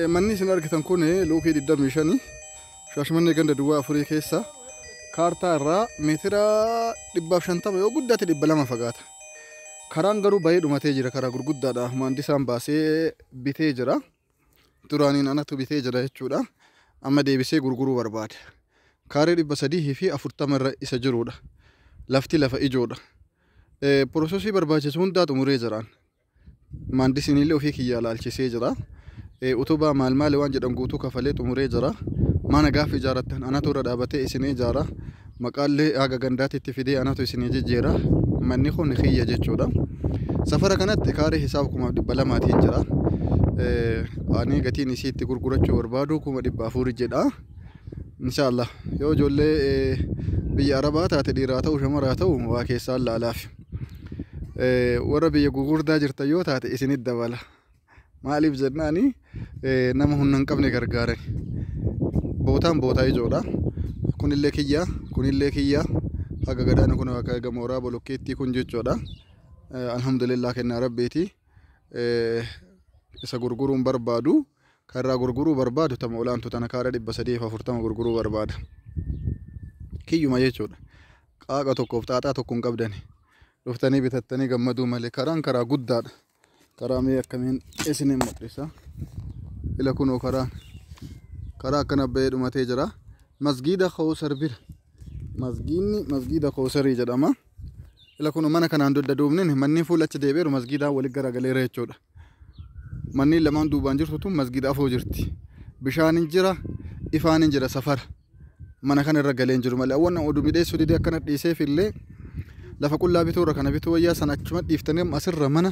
Manni isin argitan kun luukii 25 shaashmannee ganda duwwaa afurii keessa kaartaa irraa meetira 150 yoo guddaate 200 fagaata. Karaan garuu bayee dhumatee jira karaa gurguddaadha. Maandisaan baasee bitee jira. Duraaniin anatu bitee jira jechuudha. Amma deebisee gurguruu barbaada. Kaaree 340 irra isa jirudha. Lafti lafa ijoodha. Pirosesii barbaachisu hundaa xumuree jiraan. Maandisiinillee ufii kiyyaa laalchisee jira. Utubaa maal maali waan jedhan guutuu kafalee xumuree jira. Mana gaafa ijaarattan anatu irra dhaabatee isin ijaara. Maqaallee haga gandaatitti fidee anatu isinii jijjiira. Manni kun kiyya jechuudha. Safara kanatti kaaree hisaaba kumaaf dhibba lamaatiin jira. Ani gatiin isii itti gurgurachuu barbaadu kuma dhibba afur jedha. Inshaallah yoo ijoollee biyya arabaa taate dhiiraa ta'u shamaraa ta'u waa keessaan laalaaf. Eh, warra biyya gugurdaa jirtan yoo taate isinit dabala maaliif jennaani eh, nama humna hin qabne gargaaran bootaan bootaa ijoodha kunillee kiyya kunillee kiyya haga gadaana kun akka eega mooraa bolokkeettii kun jechuudha Eh, alhamdulillah kennaa rabbiiti Eh, isa gurguruun barbaadu kan irraa gurguruu barbaadu tama olaantu tana kaara dhibba sadii fi afurtama gurguruu barbaada kiyyuma jechuudha Qaaqa tokkoof xaaxaa tokko hin qabdani. Dhuftanii bitattanii gammaduu malee karaan karaa guddaadha. Karaa mee akkamiin isin hin mul'isa. Ila kunoo karaan karaa akkana bahee dhumatee jira. Masgiida Kawusar bira. Masgiinni masgiida Kawusarii jedhama. Ila kunoo mana kanaan dugda duubnin manni fuula achi deebi'eeru masgiidaan walitti garagaleera jechuudha. Manni lamaan duubaan jirtu tun masgiida afoo jirti. Bishaan hin jira, ifaan hin jira safara. mana kana irra galee hin jiru malee awwan oduu midheessuu didee akkana dhiiseef illee lafa qullaa bituu irra kana bituu wayyaa sana achuma dhiiftanii amma asirra mana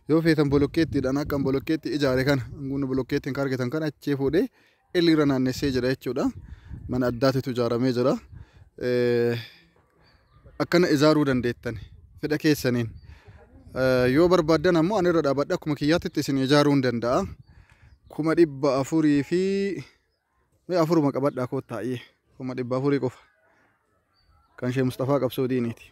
yoo feetan bolokkeettiidhaan akka an bolokkeetti ijaare kana hangumni bolokkeettiin kan argitan kana achii fuudhee ilirra naannessee jira jechuudha mana addaatitu ijaaramee jira Eh, akkana ijaaruu dandeettan fedha keessaniin Eh, yoo barbaaddan ammoo ani irra dhaabadha akkuma kiyyaatti isin ijaaruu hin danda'a kuma dhibba afurii fi Mee afuruma qabadhaa koottaa iyyee kuma dhibba afurii qofa kan shee Mustafaa qabsoo diiniiti.